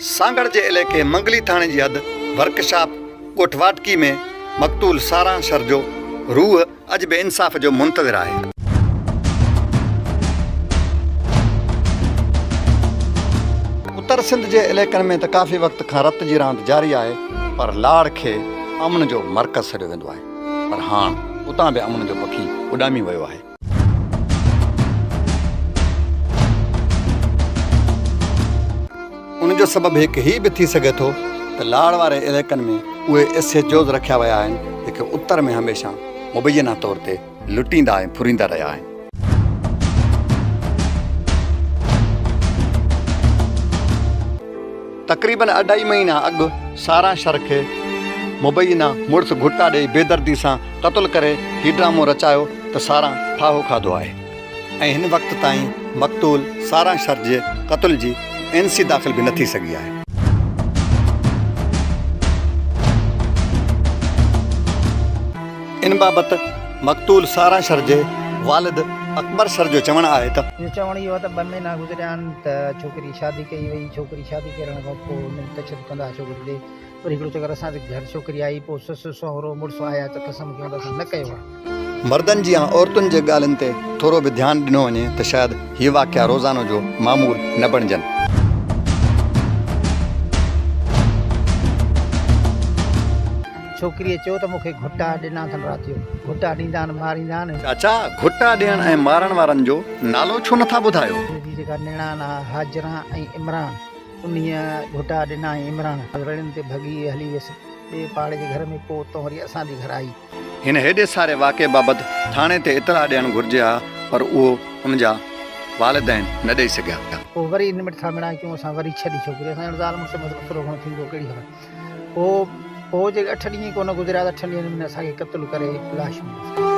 سانگهڙ جي عليقي منگلي ٿاڻي جي حد ورڪ شاپ ڳوٺ واٽڪي ۾ مقتول ساران شر جو روح اڄ به انصاف جو منتظر آهي. اتر سنڌ جي عليقن ۾ ته ڪافي وقت کان رت جي راند جاري آهي پر لاڙ کي امن جو مرڪز سڏيو ويندو آهي پر هاڻ اتان به امن جو پکي اڏامي ويو آهي. ان جو سبب هڪ هي به ٿي سگهي ٿو ته لاڙ واري علائقن ۾ اهي ايسيجوز رکيا ويا آهن جيڪي اتر ۾ هميشه مبينا طور تي لٽيندا ۽ ڦريندا رهيا آهن. تقريبن اڍائي مهينا اڳ ساران شر کي مبينا مڙس گهٽا ڏئي بيدردي سان قتل ڪري هي ڊرامو رچايو ته ساران ڦاهو کاڌو آهي ۽ هن وقت تائين مقتول ساران شر جي قتل جي اين سي داخل به نه ٿي سگهي آهي. ان بابت مقتول ساران شر جي والد اڪبر شر جو چوڻ آهي ته. جو چوڻ اهو ته ٻه مهينا گذريا آهن ته ڇوڪري. شادي ڪئي وئي ڇوڪري شادي ڪرڻ کان پوء انهن ڪڇت ڪندا ڇوڪري تي وري هڪڙو چڪر اسان جي گهر ڇوڪري آئي پوء سس سهرو مڙس آيا ته قسم کيون ته اسان نه ڪيو آهي. مردن جي يا عورتن جي ڳالهين تي ٿورو به ڌيان ڏنو وڃي ته شايد هي واقعا روزانو جو معمول نه بڻجن. ڇوڪريء چيو ته مون کي گهٽا ڏنا اٿن رات جو گهٽا ڏيندا آهن ماريندا آهن. چاچا گهٽا ڏيڻ ۽ مارڻ وارن جو نالو ڇو نٿا ٻڌايو. جي جيڪا نيڻان آهي هاجران ۽ عمران انهيء گهٽا ڏنا ۽ عمران رڙين تي ڀڳي هلي ويس ٻئي پاڙي جي گهر ۾ پوءتان وري اسان جي گهر آئي. هن هيڏي ساري واقعي بابت ٿاڻي تي اطلاع ڏيڻ گهرجي ها پر اهو هن جا والدين نه ڏئي سگهيا. پوء وري نمٽ ٿا مڙائي ڪيون اسان وري ڇڏي ڇوڪري اسان ڄڻ زال مڙس ۾ ته ٿورو گهڻو ٿيندو ڪهڙي خبر. پوء پوء جي اٺ ڏينهن ئي ڪونه گذريا ته اٺن ڏينهن ۾ اسان کي قتل ڪري لاش ملي.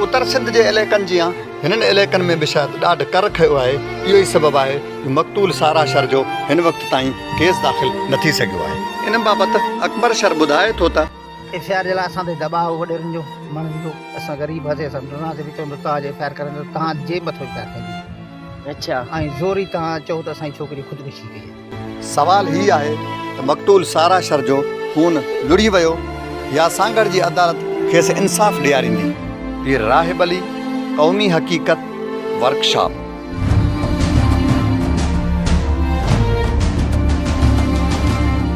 اتر سنڌ جي عليقن جيان هنن عليقن ۾ به شايد ڏاڍ ڪر کيو آهي اهو ئي سبب آهي جو مقتول سارا شر جو هن وقت تائين ڪيس داخل نه ٿي سگهيو آهي ان بابت اڪبر شر ٻڌائي ٿو ته. ايف آء آر جي لاء اسان تي دٻاء هو وڏيرن جو مڻ هيو اسان غريب هئاسين اسان ڊرنداسين به چوندو توهان جي ايف آء آر ڪرڻ ته توهان جي مٿو ايف آء آر ڪئي وئي اڇا ۽ زوري توهان چئو ته اسان جي ڇوڪري خودڪشي ڪئي سوال هي آهي ته مقتول سارا شر جو خون لڙهي ويو يا سانگهڙ جي عدالت کيس انصاف ڏياريندي؟ پير راهب علي قومي حقيقت ورڪشاپ.